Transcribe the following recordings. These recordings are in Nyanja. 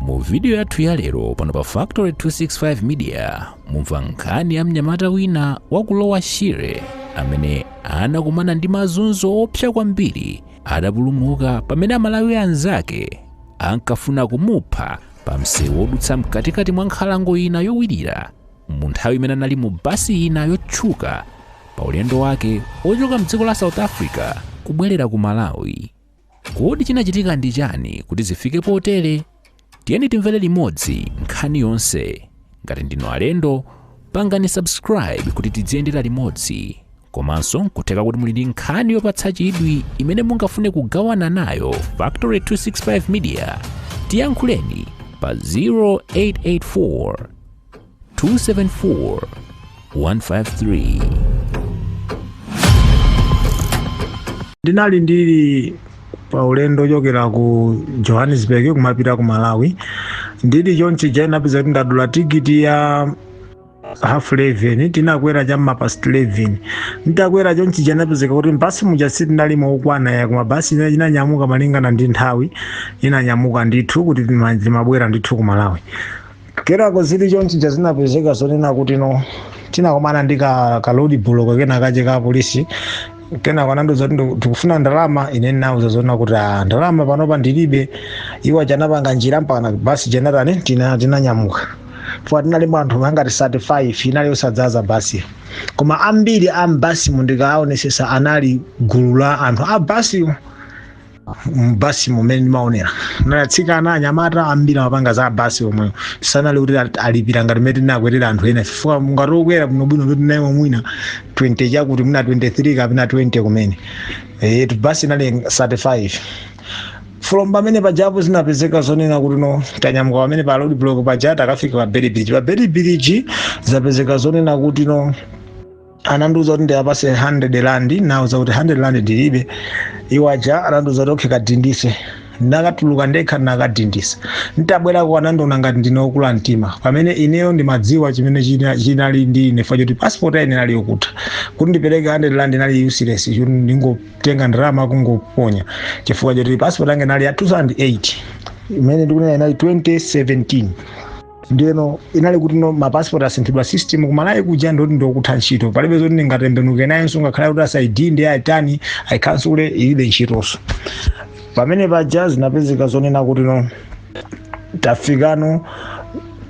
mu vidiyo yathu ya lero pano pa factory 265 media mumva nkhani ya mnyamata wina wa ku lower shire amene anakumana ndi mazunzo oopsa kwambiri adapulumuka pamene amalawi anzake ankafuna kumupha pa msewu wodutsa mkatikati mwa nkhalango ina yowirira mu nthawi imene anali mu basi ina yotchuka pa ulendo wake ochoka mdziko la south africa kubwerera ku malawi Kodi chinachitika ndi chani kuti zifike potere? Tiyeni timvere limodzi nkhani yonse. Ngati ndinu alendo, pangani subscribe kuti tidziyendera limodzi. Komanso nkutheka kuti muli ndi nkhani yopatsa chidwi imene mungafune kugawana nayo Factory 265 Media. Tiyankhuleni pa 0884 274 153. ndinali ndili pa ulendo ochokera ku johannesburg kumapita ku malawi ndili chonchija inapezeka kuti ndadula tikiti ya half 11 tinakwera cha m'ma past 11 nditakwera chonchija inapezeka kuti mbasi muja sitinalimo okwana eya koma basi inanyamuka malingana ndi nthawi inanyamuka ndithu kuti tima- timabwera ndithu ku malawi kenako zili chonchija zinapezeka zonena kuti no tinakumana ndi ka road block kena kache ka polisi kenako anandiuza kuti ndiku- tikufuna ndalama ine ndinauza zonena kuti "Ah, ndalama panopa ndilibe iwo aja anapanga njira mpakana basi ija inatani tina- tinanyamuka chifukwa tinalipo anthu angati 35 inali yosadzaza basi koma ambiri a mbasimu ndikaaonesesa anali gulu la anthu a basimu mbasi mumene ndimaonera atsikana anyamata ambiri amapanga za basi omwe sanali kuti ali- alipira ngati mene tinakwerera anthu ena chifukwa anthu okwera bwinobwino tinalimo mwina 20 chakuti mwina 23 kapena 20 kumene etu basi inali 35 from pamene paja zinapezeka zonena kuti no tanyamuka pamene pa road block paja tikafika pa beitbridge pa beitbridge zapezeka zonena kuti no anandiuza kuti ndiapase 100 rand nauza kuti 100 rand ndilibe iwo aja anandiuza kuti okay kadindise ndakatuluka ndekha ndinakadindisa nditabwerako anandiona ngati ndine okula mtima pamene ineyo ndimadziwa chimene china- chinali ndi ine chifukwa choti pasipoti yanga inali yokutha kuti ndipereke 100 rand inali useless choti ndi kungotenga ndalama kungoponya chifukwa choti pasipoti yanga inali ya 2008 imene ndikunena inali 2017 ndeno inali kuti no mapasipoti asinthidwa system ku malawi kuja nde kuti ndi yokutha ntchito palibe zoti ndingatembenuke nayenso ngakhale kuti a south aitani aikansule ilibe ntchitonso pamene paja zinapezeka zonena kuti no tafika no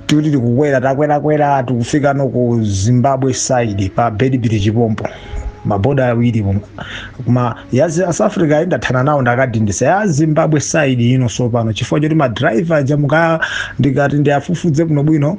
tikuti tikukwera takwerakwera tikufika no ku zimbabwe side pa beitbridge pompo maboda awiri mu- koma ya zi- south africa ayi ndathana nawo ndakadindisa ya zimbabwe side ino sopano chifukwa choti madriver aja mukaa ndikati ndiafufuze bwino bwino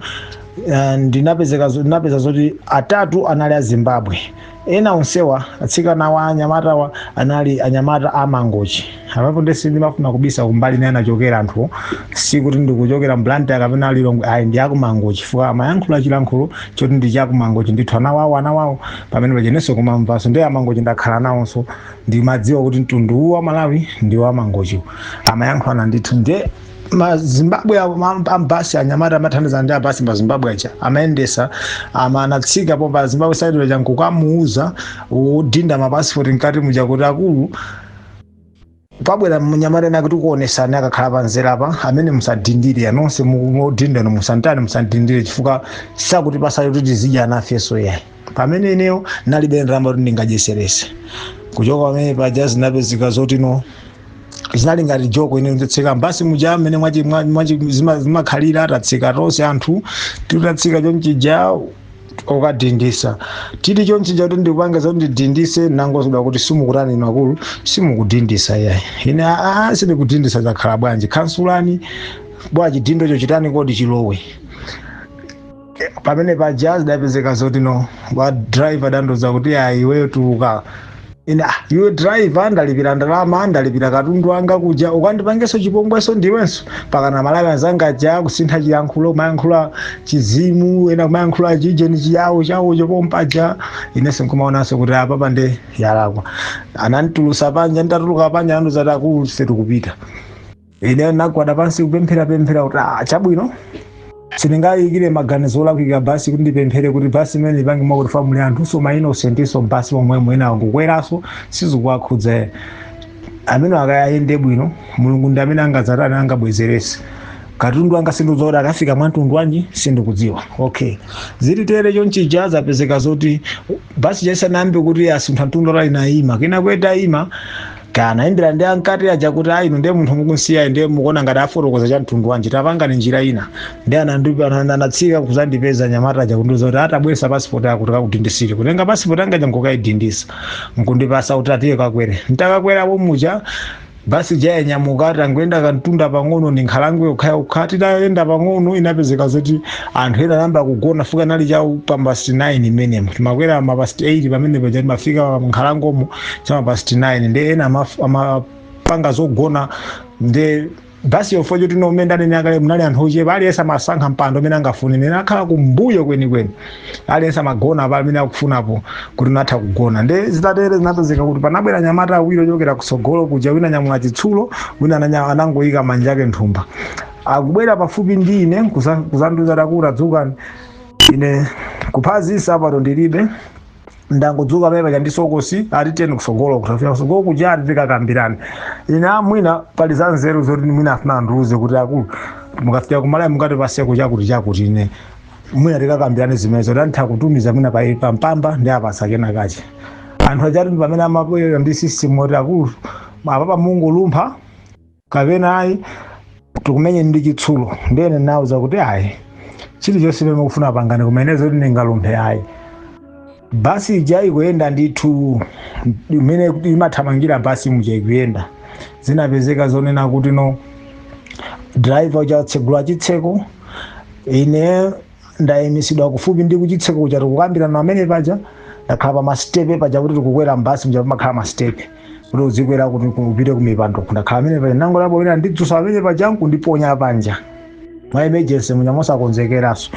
eh, ndinapezeka zo- ndinapeza zoti atatu anali a zimbabwe ena onsewa atsikanawa anyamatawa anali anyamata a mangochi apapa nde sindimafuna kubisa kumbali imene anachokera anthuwo sikuti ndikuchokera mblantyre kapena lilongwe ayi ndi akumangochi chifukwa amayankhula chilankhulo choti ndi chakumangochi ndithu anawawo anawawo pamene pajenenso kumamvanso ndi amangochi ndakhala nawonso ndimadziwa kuti mtundu uwu wa malawi ndi wamangochiwo amayankhulana ndithu nde mazimbabwe ambasi anyamata amathandiza ndi abasi pazimbabwe aja amayendetsa ama anatsikapo pa zimbabwe side aja nkukamuuza odinda mapasipoti mkati muja kuti akulu pabwera mnyamata ena tikuonesani akakhala panzera apa amene musadindire nonse mudindano musantani musadindire chifukwa sakutipasayi kuti tizidya nafeso yayi pamene ineyo nalibe ndalama kuti ndingadyesereso kuchoka pamene paja zinapezeka zoti no zinali ngati joko ine nditatsika mbasi muja amene mwachi- mwa- mwachi- zima- zimakhalira atatsika tonse anthu titatsika chomchija kokadindisa tili chonchija kuti ndikupanga zoti ndidindise nangouzidwa kuti simukutani inu akulu simukudindisa yayi ine aa sindikudindisa zakhala bwanji khansulani bwana chidindocho chitani void chilowe Eh, pamene paja zidapezeka zoti no wa driver anandiuza kuti ayi iweyo tuluka ine ah, iwe driver ndalipira ndalama ndalipira katundu wanga kuja ukandipangeso chipongweso ndiwenso pakana malawi anzanga aja kusintha chiyankhulo kumayankhula chizim ena kumayankhula chijeni chiyawo chawo chopompaja inenso nkumaonanso kuti apa pandiyalakwa ananditulutsa panja nditatuluka panja anandiuza ati akulu simukupita ine nagwada pansi kupemphera pemphera kuti ah chabwino sindingayikire maganizo olakwika basi kuti ndipemphere kuti basi imeneyi ipange mwakuti, muli anthuso ma innocentso basi momwemo mwinawo kukweraso sizikuwakhudza ena amene akayende bwino mulungu ndi amene angadzatani angabwezerese katundu anga sindidziwa kuti akafika mwantundu wanji sindikudziwa okay zili tere chonchija zapezeka zoti basi ija isanayambe kuti isunthe mtunda wautali nayima kenako itayima kaya anayimbira ndi ankati aja kuti ayi inu ndiye munthu mukunsiyayu ndiye mukuona ngati afotokoza cha mtundu wanji tapangani njira ina ndiye anandipa- ana- anatsika kuzandipeza anyamata aja kundiuza kuti ah tabweresa pasipoti ako tikakudindisire kutenga pasipoti anga aja nkukayidindisa nkundipasa kuti ah tiye kakwere ntakakweramo muja basi ija yanyamuka tangoyenda kantunda pang'ono ndi nkhalango yokhayokha titayenda pang'ono inapezeka zoti anthu ena anayamba kugona chifukwa inali cha m'ma past 9 imenemo timakwera ma past 8 pamene paja timafika nkhalangomo cha ma past 9 nde ena amaf- amapanga zogona nde basi yofo choti momwe ndanena kale munali anthu ochepa aliyense amasankha mpando umene angafune ine ndakhala kumbuyo kwenikweni aliyense amagona pamene akufunapo kuti unatha kugona nde zitatere zinapezeka kuti panabwera anyamata awiri ochokera kutsogolo kuja wina wanyamula chitsulo wina ananya- anangoyika manja ake mthumba akubwera pafupi ndi ine kuza- kuzandiuza kuti tadzukani ine kuphazi nsapato ndilibe ndangodzuka pamene paja ndi sokosi ati tiyeni kusogolo kukafika kusogolo kuja ati tikakambirane ine mwina pali za nzeru zoti mwina afuna andiuze kuti akulu mukafika ku Malawi mungatipaseko chakuti chakuti ine mwina tikakambirane zimenezo tantha kutumiza mwina pa pa mpamba ndiwapasa kenakake anthu ajatu ndi pamene amabwera ndi system yoti akulu apapa mungolumpha kapena ayi tikumenye ndi chitsulo ndiye ine nawauza kuti ayi chilichonse chimene mukufuna pangani koma ine zoti ndingalumphe ayi basi ija ikuyenda ndithu mmene imathamangira basi muja ikuyenda zinapezeka zonena kutino driver uja atsegula chitseko ine ndayimisidwa kufupi ndi kuchitseko kuja tikukambirana pamene paja ndakhala pa masitepe paja kuti tikukwera mbasi muja pamakhala masitepe kuti uzikwera kuti upite kumipando ndakhala pamene paja ndangoonapo wina wandidzusa pamene paja nkundiponya panja mwa emergency muja mosakonzekeranso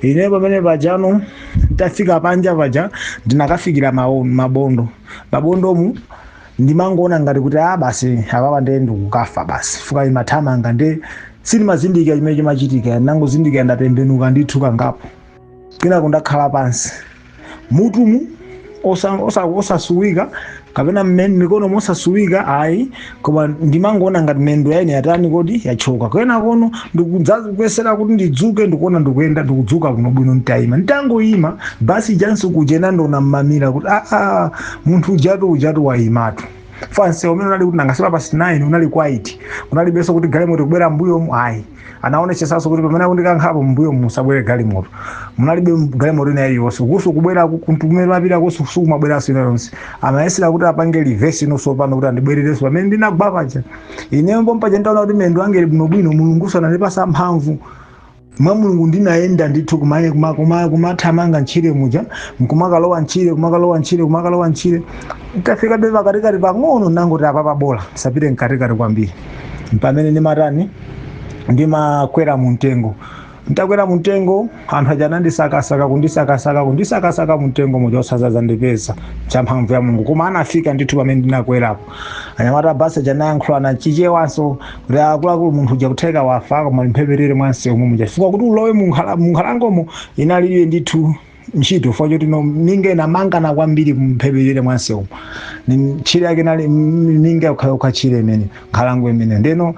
ine pamene pajano nditafika panja paja ndinakafikira mawo- mabondo mabondomu ndimangoona ngati kuti a basi apapa nde ndikukafa basi chifukwa imathamanga nde sindimazindikira chimene chimachitika ndangozindikira ndatembenuka ndithu kangapo kenako ndakhala pansi mutumu osa- osa- osasweka kapena mmen- mikonomu osasweka ayi koma ndimangoona ngati mendo yaine yatani kodi yachoka kenakono ndikudzakuyesera kuti ndidzuke ndikuona ndikuyenda ndikudzuka bwinobwino nditayima nditangoyima basi ijanso kuchena ndaona mmamira kuti aa munthu ujatu ujatu waimatu fa msewu mmene unali kuti nanga si past 9 unali quiet unalibenso kuti galimoto ikubwera mbuyomu ayi anaonesesanso kuti pamene akundikankhapo mbuyo musabwere galimoto munalibe galimoto ina iliyonse kuso kubwera kumene amapita kuso sikumabweranso ina yonse amayesera kuti apange reverse inonso pano kuti andibwererenso pamene ndinagwa paja ineyo pompaja nditaona kuti mendo anga ali bwinobwino mulunguso anandipasa mphamvu mwa Mulungu ndinayenda ndithu kumaye kuma- kuma- kumathamanga ntchire muja nkumakalowa ntchire kumakalowa ntchire kumakalowa ntchire ntafikabe pakatikati pang'ono nangoti apapa bola ndisapite mkatikati kwambiri mpamene ndimatani ndimakwera mu mtengo ntakwera mu mtengo anthu aja anandisakasaka kundisakasaka kundisakasaka mu mtengo muja osaza- zandipeza cha mphamvu ya mulungu koma anafika ndithu pamene ndinakwerapo anyamata abasi aja anayankhulana chichewanso kuti akuluakulu munthu uja kutheka wafa koma mphepetele mwa msewu muja chifukwa kuti ulowe mu nkhala- mu nkhalangomo inalibe ndithu ntchito fo choti minga inamangana kwambiri mphepetele mwa msewu ni ntchire yake inali m- minga yokhayokha tchire imene nkhalango imene ndeno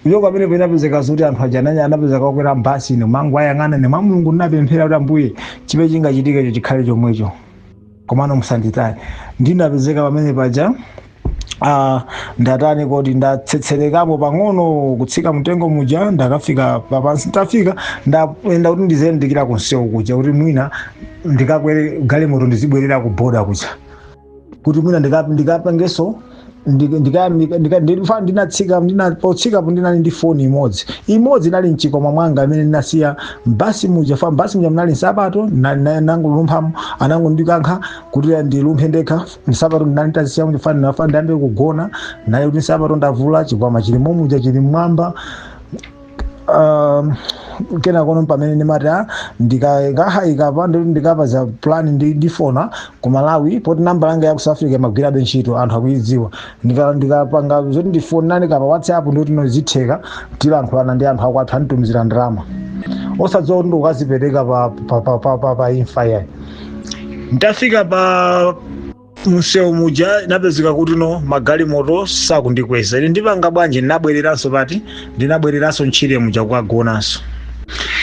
kuchoka pamene penapezeka zoti anthu aja ananya anapezeka akwera mbasi ino mangu ayang'ana ne mwa mulungu ndinapemphera kuti ambuye chipe chingachitikecho chikhale chomwecho komano musanditaye ndinapezeka pamene paja ah, ndatani kodi ndatsetserekapo pang'ono kutsika mtengo muja ndakafika papansi ntafika ndayenda kuti ndiziyandikira kumsewu kuja kuti mwina ndikakwere galimoto ndizibwerera ku boda kuja kuti mwina ndika- ndikapangenso Ndika- ndika- ndika- ndika- ndilifa- ndinatsika ndina- potsikapo ndinali ndi foni imodzi imodzi inali mchikwama mwanga imene ndinasiya mbasi muja fa mbasi muja munali nsapato na- na- nangolumphamo anangondikankhira kuti ndilumphe ndekha nsapato ndinali nditazisiya muja fa ndinafuna ndiyambe kugona naye kuti nsapato ndavula chikwama chili momuja chili mmwamba um, kena kono pamene ndimati ah, ndika- ndikakayika pa ndi- ndikapeza plan ndi ndifona ku malawi poti namba yanga ya ku south africa imagwirabe ntchito anthu akuidziwa Ndika- ndikapanga zoti ndifonane kapa whatsapp ndikuti nozitheka tilankhulana ndi anthu akwathu anditumizira ndalama osadziwa kuti ndikukadzipereka pa, pa, pa, pa, pa, pa imfa yayi nditafika pa msewu muja inapezeka kuti no magalimoto sakundikweza ine ndipanga bwanji ndinabwereranso pati ndinabwereranso ntchire muja kukagonanso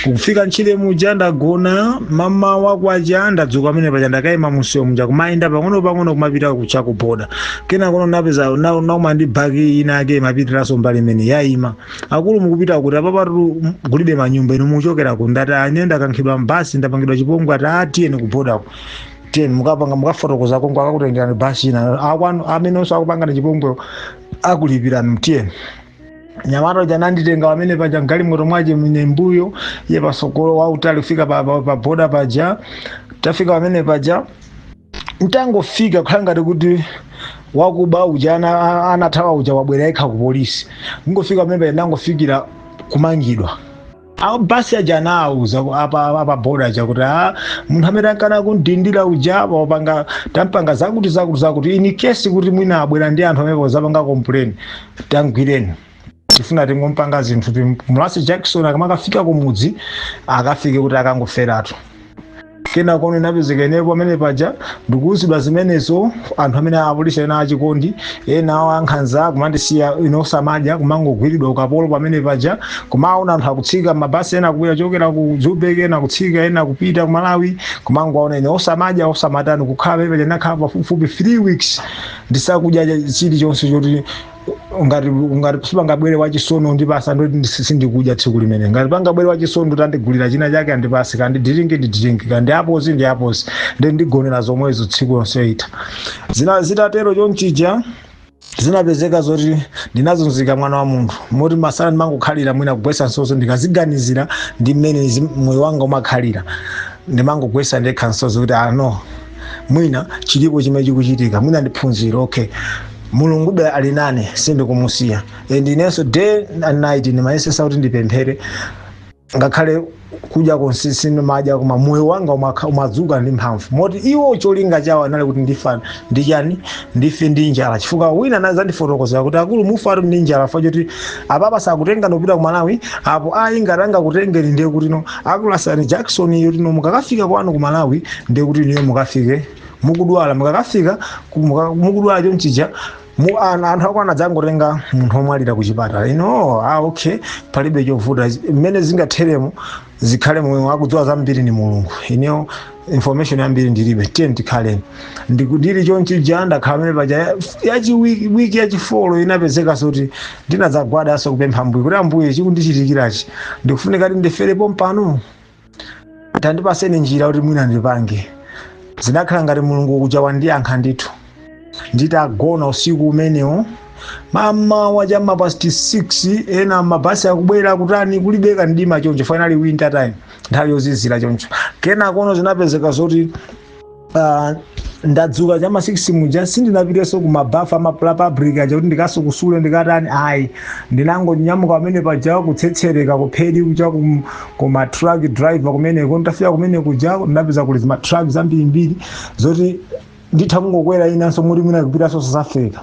kufika ntchire muja ndagona mmamawa kwacha ndadzuka pamene paja ndakayima mumsewu muja kumayenda pang'ono pang'ono kumapita cha kuboda kenakono napezeka na- naima ndi baki ina yake imapitiranso mbali imene yayima akulu mukupita kuti apapatu kulibe manyumba inu muchokera ku ndati a ine ndakankhidwa mbasi ndapangidwa chipongwe ati a tiyeni kubodako tiyeni mukapanga mukafotokoza konko akakutengerani basi ina akwanu amenenso akupangani chipongwewo akulipirani mtiyeni mnyamata uja nanditenga pamene paja mgalimoto mwake ine mbuyo iye patsogolo wautali kufika pa, pa, pa boda paja tafika pamene paja ntangofika kukhala ngati kuti wakuba uja ana- a- anathawa uja wabwera yekha ku polisi ngofika pamene paja ndangofikira kumangidwa a basi aja anawuza apa apa boda aja kuti a munthu amene ankakana kundidindira uja apa wapanga tampanga zakuti zakuti zakuti in case kuti mwina abwera ndi anthu amene adzapanga complain tamgwireni tifuna tingompanga zinthu mulasi jackson akamakafika kumudzi akafike kuti akangoferatu kenako ndinapezeka ineyo pamene paja ndikuwuzidwa zimenezo anthu amene apolisi ena achikondi ena awo ankhanza kumandisiya ine osamadya kumangogwiridwa ukapolo pamene paja kumaona anthu akutsika mabasi ena kubwera chokera ku joburg ena kutsika ena kupita ku malawi kumangoaona ine osamadya osamatani kukhala pamene paja ndinakhala pafupifupi 3 weeks ndisakudya chilichonse choti ngati ngati sipangabwere wachisoni nkundipasa ndoti sindikudya tsiku limene ngati pangabwere wachisoni ndoti andigulira china chake andipase kandi diringi ndi diringi kandi apozi ndi apozi ndi ndigonera zomwezo tsiku lonse ita zina zitatero chonchija zinapezeka zoti ndinazunzika mwana wa munthu moti masana ndimangokhalira mwina kugwesa misozi ndikaziganizira ndi mmene zi- moyo wanga umakhalira ndimangogwesa ndekha misozi kuti no mwina chilipo chimene chikuchitika mwina ndi phunziro okay mulungube ali nane sindikumusiya and inenso day and night ndimayesesa kuti ndipemphere ngakhale kudya konse sindimadya koma moyo wanga umakha- umadzuka ndi mphamvu moti iwo cholinga chawo anali kuti ndifa ndi chani ndife ndi njala chifukwa wina anazandifotokozera kuti akulu mufa ati ndi njala mufa choti apapa sakutenga ndikupita ku malawi apo ayi ngati angakutengeni ndiye kuti no akulasani jakisoni yoti no mukakafika kwanu ku malawi ndiye kuti inuyo mukafike mukudwala mukakafika ku- muka- mukudwala chonchija mu ana anthu akwanu adzangotenga munthu omwalira ku chipatala ine ah okay palibe chovuta mmene zingatheremo zikhale momwemo akudziwa zambiri ni mulungu ineyo information yambiri ndilibe tiye tikhaleni ndili chonchija ndakhala pamene paja yachiwiki wiki yachifolo inapezekanso kuti ndinadzagwadanso kupempha ambuye kuti ambuye chikundichitikirachi ndikufunika kuti ndifere pompano tandipaseni njira kuti mwina ndipange zinakhala ngati mulungu kuja wandiyankha ndithu nditagona usiku umenewo mmamawa cha ma past 6 ena mabasi akubwera kutani kulibe kamdima choncho finally winter time nthawi yozizira choncho kenakono zinapezeka zoti uh, ndadzuka cha ma 6 muja sindinapiteso kumabafa ama public aja kuti ndikasukusule ndikatani ayi ndinangonyamuka pamene paja kutsetsereka kumphedi kuja kum- kuma truck driver kumeneko nditafika kumene kuja ndinapeza kuli zima truck zambirimbiri zoti nditha kungokwera inenso moti mwina kupitanso south africa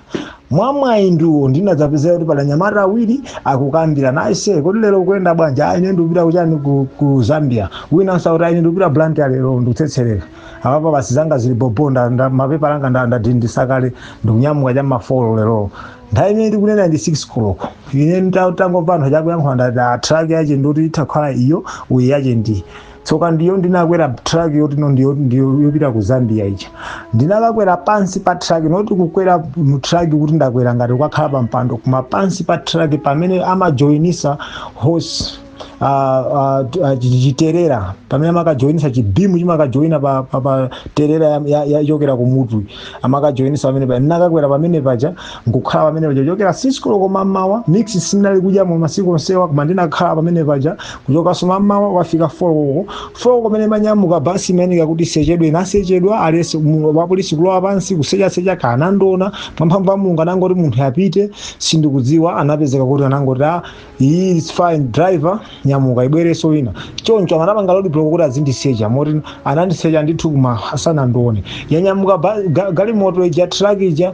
mwamwayi ndiwo ndinadzapezeka kuti pali anyamata awiri akukambirana aise kodi lero ukuyenda bwanji ayi ine ndikupita ku chani ku, ku zambia winanso akuti ayi ine ndikupita blantyre lero ndikutsetsereka apapa basi zanga zili bobo nda- nda- mapepala anga nda- ndadindisa kale ndikunyamuka cha mafolo lero nthawi imene tikunena ndi 6 koloko ine nditangomva anthu aja akuyankhula ndati a truck yache ndoti itha kukhala iyo uyi yache ndi tsoka ndiyo ndinakwera truck yotino ndiyo ndiyo yopita ku zambia ija ndinakakwera pansi pa truck not kukwera mu truck kuti ndakwera ngati kukakhala pa mpando koma pansi pa truck pamene amajoinisa horse ah, ah, t- ah, chi- chiterera pamene amakajoinisa chibimu chimakajoina pa, pa, pa terera ya- ya- yachokera ku mutu amakajoinisa pamene paja ndinakakwera pamene paja nkukhala pamene paja kuchokera sikisi koloko mammawa mix sinali kudyamo masiku onsewa koma ndinakhala pamene paja kuchokanso mammawa kwafika folo koloko pamene imanyamuka basi imayeneka kuti isechedwe inasechedwa aliyense mu- wapolisi kulowa pansi kusechasecha akanandiona mwamphamvu ya mulungu anangoti munthu apite sindikudziwa anapezeka kuti anangoti a iyi it's fine driver nyamuka ibwerenso ina choncho anapanga road block kuti azindisecha moti anandisecha ndithu koma sanandione yanyamuka ba- ga- galimoto ija truck ija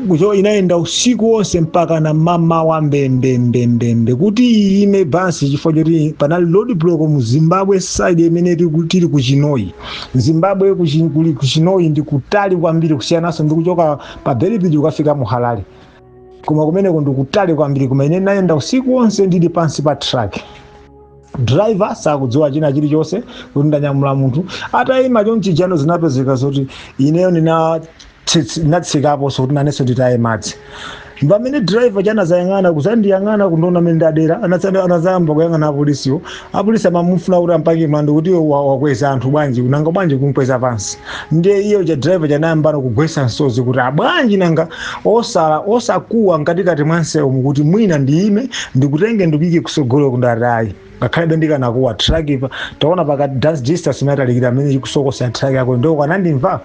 kucho inayenda usiku wonse mpakana mammawa mbembembembembe kuti iyime basi chifukwa choti panali road block mu zimbabwe side imene tiku- tili ku chinhoyi zimbabwe ku Chi- kuli ku chinhoyi ndi kutali kwambiri kusiyananso ndi kuchoka pa beitbridge ukafika mu harare koma kumeneko ndikutali kwambiri koma ine ndinayenda usiku wonse ndili pansi pa truck driver sakudziwa china chilichonse kuti ndanyamula munthu atayima chonchijano zinapezeka zoti ineyo ndina tsitsi- ndinatsikaponso kuti nanenso nditaye madzi pamene driver uja anazayang'ana kuzandiyang'ana kundiona mmene ndadera anazayamba kuyang'ana apolisiwo Apolisi amamufuna kuti ampake mlandu kuti iwe wa- wakweza anthu bwanji nanga bwanji kumkweza pansi ndiye iye uja driver uja anayambano kugwesa msozi kuti a bwanji nanga osala osakuwa mkatikati mwa msewumu kuti mwina ndiyime ndikutenge ndikuyike kusogolo ndati ayi ngakhale ndikanakuwa truck pa taona pakati dance distance imatalikira mmene ikusokosa truck yako ndiyo ukanandimva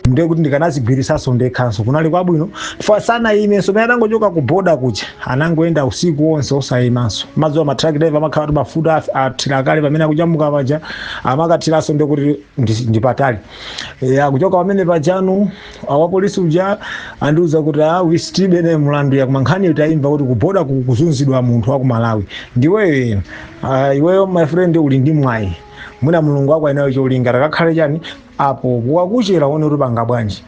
ndiye kuti ndikanazigwiritsanso ndekhanso kunali kwabwino chifukwa sanayimenso pamene atangochoka ku boda kuja anangoyenda usiku onse osayimanso mumadziwa ma truck driver amakhala kuti mafuta af- athira kale pamene akunyamuka paja amakathiranso ndiye kuti ndi- ndi patali Eh, akuchoka pamene pajano wapolisi uja anandiuza kuti a wisitibe ne mulandu ayi koma nkhani tayimva kuti kuboda ku- kuzunzidwa munthu wa ku malawi ndiweyo ah, iweyo my friend uli ndi mwayi mwina mulungu wako ali nayo cholinga takakhale chani apo kwakuchera uone kuti upanga bwanji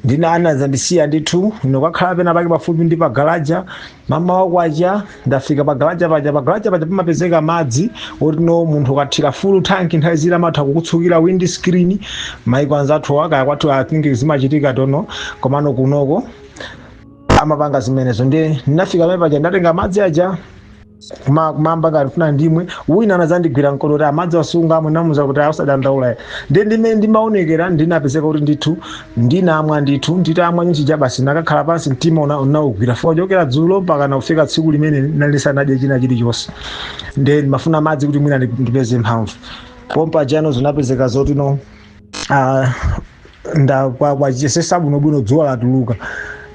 ndiye anazandisiya ndithu ndinakakhala pena pake pafupi ndi pagalaja mammawa kwacha ndafika pagalaja paja pagalaja paja pamapezeka madzi otino munthu ukathira full tank nthawi zina amatha kukutsukira wind screen maiko anzathu a kaya kwathu i think zimachitika tono komano kunoku amapanga zimenezo ndiye ndinafika pamene paja ndatenga madzi aja kuma kumamba ngati funa ndimwe wina anadzandigwira mkono kuti amadzi wasunga amwe namuza kuti ah usadandaule ndi ndimene ndimaonekera ndinapezeka kuti ndithu ndinamwa ndithu nditamwa ndithu basi nakakhala pansi mtima una- unaugwira fo chokera dzulo mpaka nkufika tsiku limene nalisanadye china chilichonse nde ndimafuna madzi kuti mwina ndi- ndipeze mphamvu pompaja no zinapezeka zoti no Ah, nda kwa kwacha sesa bwinobwino dzuwa latuluka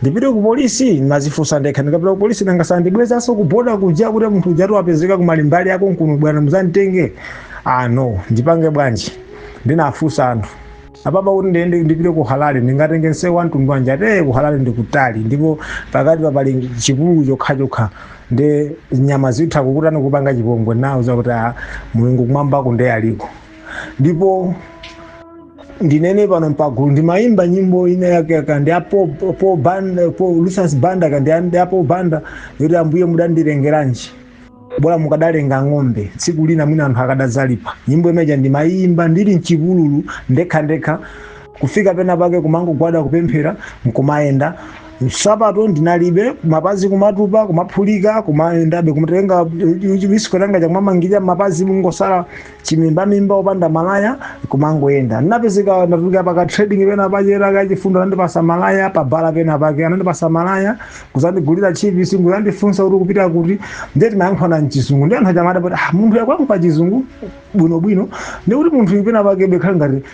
ndipite ku polisi nkumadzifunsa ndekha ndikapita ku polisi nanga sandibwezanso ku boda kuja kuti munthu ujatu wapezeka ku mbali yakonkuno bwana mudzamutenge ah no ndipange bwanji ndinafunsa anthu apapa kuti ndiende ndipite ku Harare ndingatenge nseu wa mtundu wanji ati ku Harare ndikutali ndipo pakati pa pali chipululu chokhachokha ndi nyama zitha kukutani kupanga chipongwe nawauza kuti ah, mulungu kumwambako ndiye aliko ndipo ndinene pano mpagulu ndimayimba nyimbo ina yake ya kandiapo po banda po Lucius Banda kandiapo banda yoti ambuye mudandilengeranji bora mukadalenga ng'ombe tsiku lina mwina anthu akadazalipa nyimbo imeja ndimayimba ndili mchipululu ndekha ndekha kufika pena pake kumangogwada kupemphera nkumayenda nsapato ndinalibe mapazi kumatupa kumaphulika kumayendabe kumatenga chisikhotha changa cha kumamangirira mapazi nkungotsala chimimbamimba opanda malaya kumangoyenda ndinapezeka ndatulukira pa ka trading pena pake wachifundo anandipasa malaya pa bala pena pake anandipasa malaya kuzandigulira chips kuzandifunsa kuti kupita kuti ndiye timayankhulana mchizungu ndiye anthu aja amadabwa kuti ah, munthu uyu akuyankhula chizungu bwinobwino ndiye kuti munthu pena pake be akhale ngati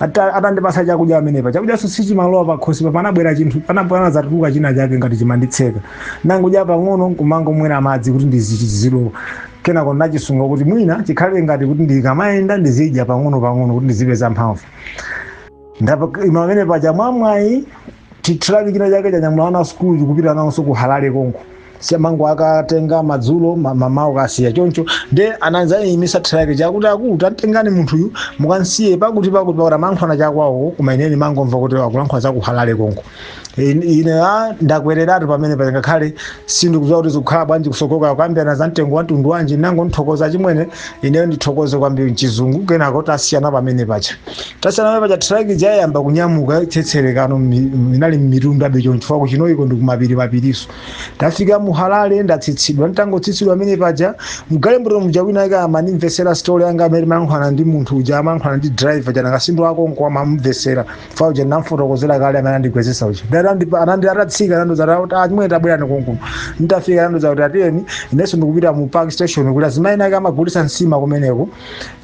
Ata- atandipasa chakudya pamenepa chakudyanso sichimalowa pakhosi pa panabwera chinthu pana- panadzatuluka china chake ngati chimanditseka nangudya pang'ono kumangomwera madzi kuti chizilowa kenako nachisunga kuti mwina chikhale ngati kuti ndikamayenda ndizidya pang'ono pang'ono kuti ndizipeza mphamvu ndapa ima pamenepaja mwamwayi Chi truck china chake chanyamula ana a sukulu chikupita nawonso ku Harare konko. Si amangokatenga madzulo ma- mamawa kukasiya choncho nde anadzayimitsa truck ija kuti akulu tamtengani munthuyu mukansiye pakuti pakuti pakuti amayankhulana chakwawo koma ine ndimangomva kuti akulankhula za ku Harare konko. In- Ine a ndakwereratu pamenepaja ngakhale sindikudziwa kuti zikukhala bwanji kusoko kukambirana za mtengo wa mtundu wanji nangothokoza achimwene ineyo ndithokoze kwambiri mchizungu kenako tasiyana pamenepaja tasiyana pamenepaja traki ija yayamba kunyamuka tsetserekano mmi- inali mmitundabe choncho chifukwa ku Chinhoyiko ndi kumapiri mapirinso tafika mu Harare ndatsitsidwa nditangotsitsidwa pamenepaja mgalimoto muja wina ake amandimvesera story yanga mmene ndimayankhulana ndi munthu uja amayankhulana ndi driver uja na kasinja wake konko ama amamvesera chifukwa uja ndinamfotokozera kale amene andigwetsetsa uja ndati andipa- anandi atatsika anandiuza kuti achimwene tabwerani konkuno nditafika anandiuza kuti atiyeni inenso ndikupita mu park station kuti azimayi ake amagulitsa nsima kumeneko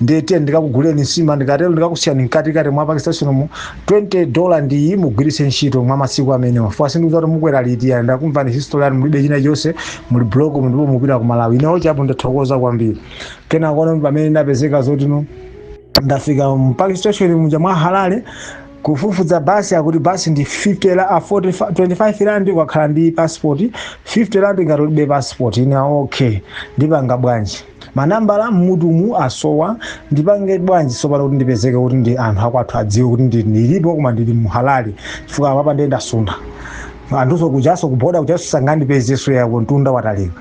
ndiye tiyeni ndikakuguleni nsima ndikatero ndikakusiyani mkatikati mwa park station mu 20 dola ndi iyi mugwiritse ntchito mwa masiku amenewa fuka simudziwa kuti mukwera liti yani ndakumvani history yanu mulibe china chonse muli broke mu ndipo mupita ku malawi inewo chapo ndathokoza kwambiri kenako pamene ndapezeka zoti no ndafika mu park station muja mwa harare kufufuza basi akuti basi ndi 50 la a 45 25 rand ukakhala ndi passport 50 rand ngati ulibe passport ine okay ndipanga bwanji manambala mmutumu asowa ndipange bwanji sopano kuti ndipezeke kuti ndi anthu akwathu adziwe kuti ndi- ndilipo koma ndili mu harare chifukwa apapa ndiye ndasuntha anthuso kujaso kuboda kujaso sangandipezeso yako mtunda watalika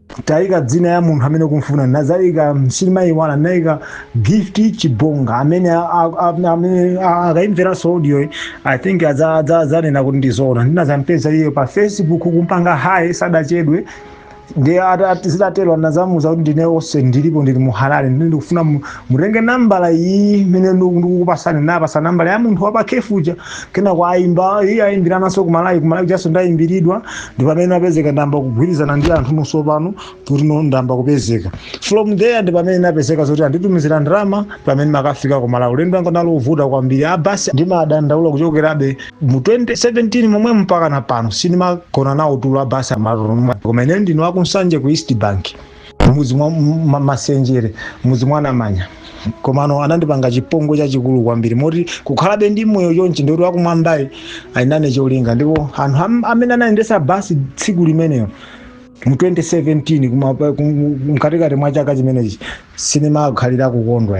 taika dzina ya munthu amene ukumfuna nazaika sindimayiwala naika gift chibonga amene a- a- a- amene a- akaimveranso audioyi i think adza- adza- adzanena kuti ndizoona ndinazampeza iye pa facebook kumpanga hayi sadachedwe ndi ata- ati zitatero anazamuza kuti ndine onse ndilipo ndili mu harare ndiye ndikufuna mu- Mutenge nambala iyi imene ndiku- ndikukupasani napasa nambala ya munthu wa pa cafe uja kenako ayimba iye ayimbirananso kumalawi kumalawi kujanso ndayimbiridwa ndi pamene apezeka ndamba kugwirizana ndi anthu nonso pano kuti no ndamba kupezeka from there ndi pamene napezeka zoti anditumizira ndalama pamene makafika kumalawi ulendo wanga unali ovuta kwambiri abasi ndimadandaula kuchokerabe mu 2017 momwe mpaka na pano sindimagona nawo tulo abasi amalomwe koma ine ndine wakunsanje ku east bank mudzi mwa m- ma- masenjere mudzi mwa namanya komano anandipanga chipongwe chachikulu kwambiri moti kukhalabe ndi moyo chonchi ndikuti wakumwambayi alinane cholinga ndipo anthu am- amene anayendesa basi tsiku limenelo mu 2017 kuma- kum- mkatikati mwa chaka chimenechi sinimakhalira kukondwa